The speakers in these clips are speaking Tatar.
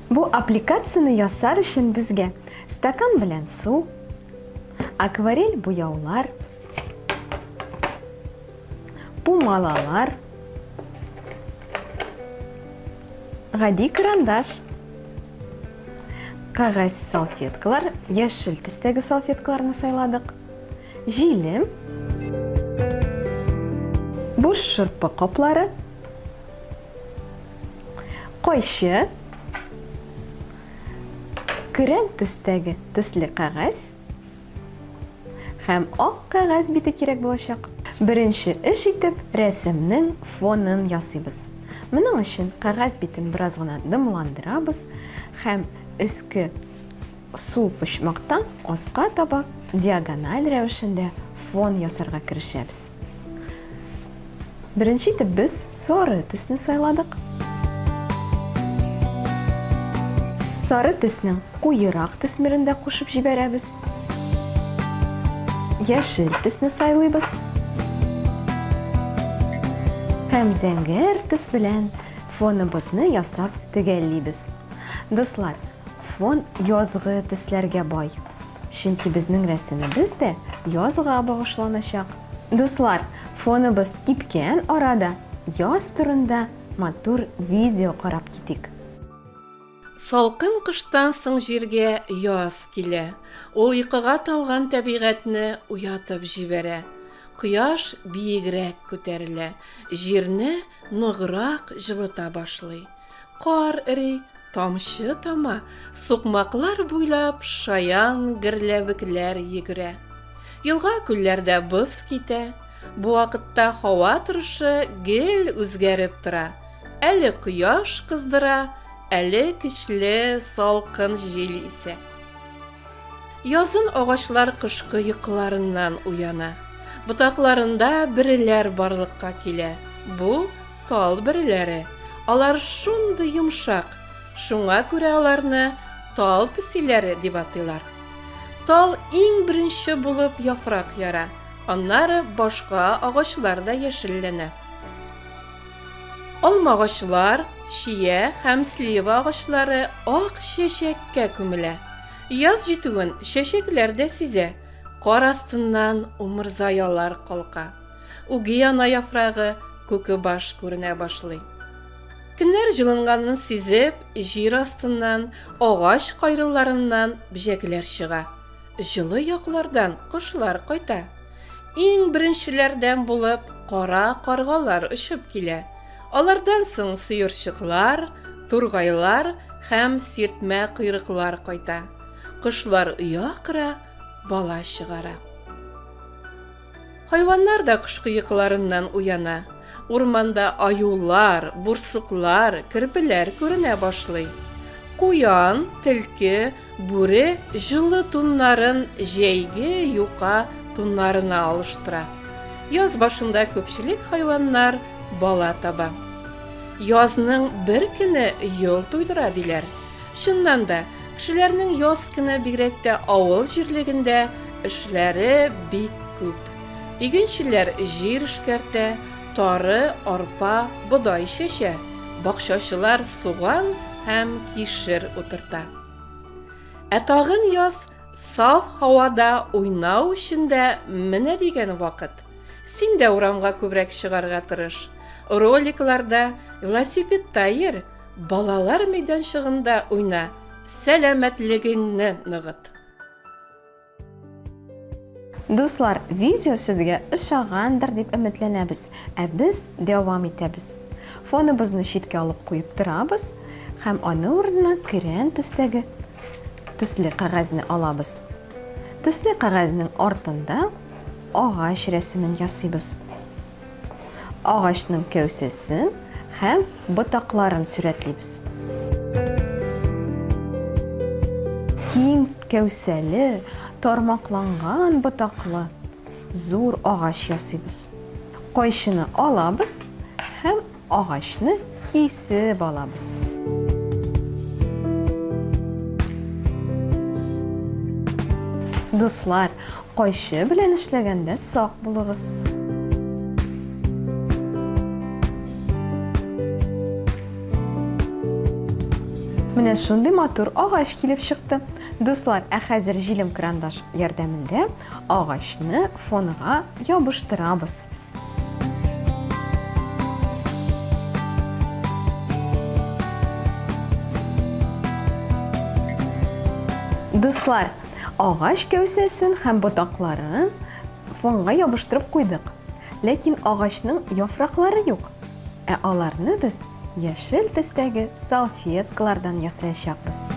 Бу аппликацияне ясар өчен безгә стакан белән су, акварель буяулар, Пумалалар. Гади карандаш. Кагаз салфеткалар, яшел төстәге салфеткаларны сайладык. Җилем. Буш шырпы каплары. Кайчы. Көрән төстәге төсле кагаз. Һәм ак кәгазь бите кирәк булачак. Беренче эш итеп рәсемнең фонын ясыйбыз. Моның өчен кәгазь битен бераз гына дымландырабыз һәм өске сул почмактан аска таба диагональ рәвешендә фон ясарга керешәбез. Беренче итеп без сары төсне сайладык. Сары төснең куерак төсмерен дә кушып җибәрәбез. Яшел төсне сайлыйбыз. Һәм зәңгәр төс белән фоныбызны ясап төгәллибез. Дуслар, фон язгы төсләргә бай. Чөнки безнең рәсемебез дә язга багышланачак. Дуслар, фоныбыз кипкән арада яз турында матур видео карап китик. Салкын кыштан соң җиргә яз килә. Ул йокыга талган тәбигатьне уятып җибәрә. Кояш биегрәк күтәрелә, җирне ныграк җылыта башлый. Кар эри, тамчы тама, сукмаклар буйлап шаян герләвекләр йөгерә. Елга-күлләрдә боз китә. Бу вакытта һава торышы гел үзгәреп тора. Әле кояш кыздыра, әле көчле салкын җил исә. Язын агачлар кышкы йокыларыннан уяна. Ботакларында бөреләр барлыкка килә. Бу Тал бөреләре. Алар шундый йомшак, шуңа күрә аларны тал песиләре дип атыйлар. Тал иң беренче булып яфрак яра, аннары башка агачлар да яшелләнә. Алмагачлар, чия һәм слива агачлары ак чәчәккә күмелә. Яз җитүен чәчәкләр дә сизә, кар астыннан умырзаялар калка. Үги ана яфрагы, күкебаш күренә башлый. Көннәр җылынганын сизеп, җир астыннан, агач кайрылларыннан бҗәкләр чыга. Җылы яклардан кошлар кайта. Иң беренчеләрдән булып кара каргалар очып килә. Алардан соң сыерчыклар, тургайлар һәм сиртмә койрыклар кайта. Кошлар оя кыра, бала чыгара. Хайваннар да кышкы йокыларыннан уяна. Урманда аюлар, бурсыклар, керпеләр күренә башлый. Куян, тилке, бүре җылы туннарын җәйге юка туннарына алыштыра. Яз башында күпчелек хайваннар бала таба. Язның бер көне йол туйдыра диләр. Чыннан да, кешеләрнең яз кына бигрәк тә авыл җирлегендә эшләре бик күп. Игенчеләр җир эшкәртә, тары, арпа, бодай чәчә, бакчачылар суган һәм кишер утырта. Ә тагын яз саф һавада уйнау өчен дә менә дигән вакыт. Син дә урамга күбрәк чыгарга тырыш. Роликларда, велосипедта йөр, Балалар мәйданчыгында уйна, сәламәтлегеңне ныгыт! Дуслар, видео сезгә ошагандыр дип өметләнәбез, ә без дәвам итәбез. Фоныбызны читкә алып куеп торабыз һәм аны урынына көрән төстәге төсле кәгазьне алабыз. Төсле кәгазьнең артында агач рәсемен ясыйбыз. Агачның кәүсәсен һәм ботакларын сурәтлибез. Киң кәүсәле, тармакланган ботаклы зур агач ясыйбыз. Кайчыны алабыз һәм Агачны кисеп алабыз. Дуслар, кайчы белән эшләгәндә сак булыгыз. Менә шундый матур агач килеп чыкты. Дуслар, ә хәзер җилем крандаш ярдәмендә агачны фонга ябыштырабыз. Дуслар, агач кәүсәсен һәм ботакларын фонга ябыштырып куйдык. Ләкин агачның яфраклары юк. Ә аларны без яшел төстәге салфеткалардан ясаячакбыз.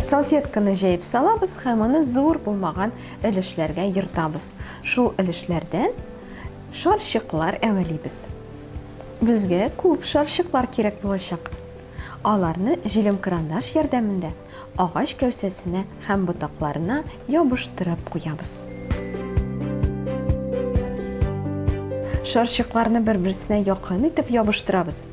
Салфетканы җәеп салабыз һәм аны зур булмаган Өлешләргә ертабыз. Шул өлешләрдән шарчыклар әвәлибез. Безгә күп шарчыклар кирәк булачак. Аларны җилемкырандаш ярдәмендә агач кәүсәсенә һәм ботакларына ябыштырып куябыз. Шарчыкларны бер-берсенә якын итеп ябыштырабыз.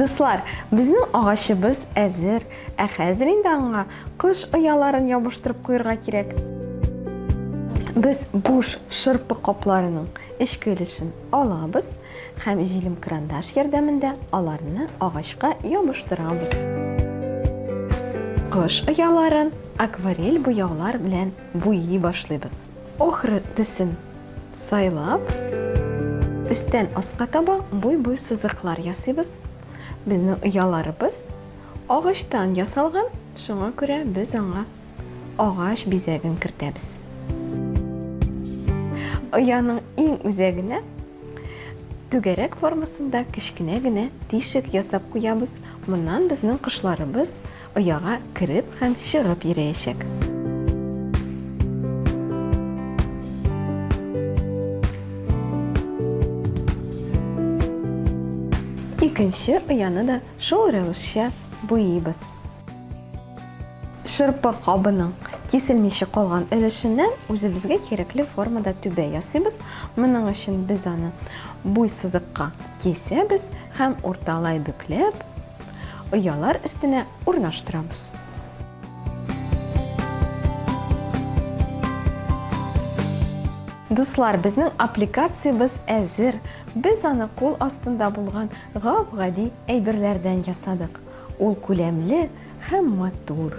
Дуслар, безнең агачыбыз әзер, ә хәзер инде аңа кош ояларын ябыштырып куярга кирәк. Без буш шырпы капларының эчке өлешен алабыз һәм җилем крандаш ярдәмендә аларны агачка ябыштырабыз. Кош ояларын акварель буяулар белән буйый башлыйбыз. Охры төсен сайлап, өстән аска таба буй-буй сызыклар ясыйбыз. Безнең ояларыбыз агачтан ясалган, шуңа күрә без аңа агач бизәген кертәбез. Ояның иң үзәгенә түгәрәк формасында кечкенә генә тишек ясап куябыз. Моннан безнең кошларыбыз Ояга кереп һәм чыгып йөрәячәк. Икенче ояны да шул рәвешчә буйыйбыз. Шырпы кабының киселмичә калган өлешеннән үзебезгә кирәкле формада түбә ясыйбыз. Моның өчен без аны буй сызыкка кисәбез һәм урталай бөкләп, оялар өстенә урнаштырабыз. Дуслар, безнең аппликациябез әзер. Без аны кул астында булган гап-гади әйберләрдән ясадык. Ул күләмле һәм матур.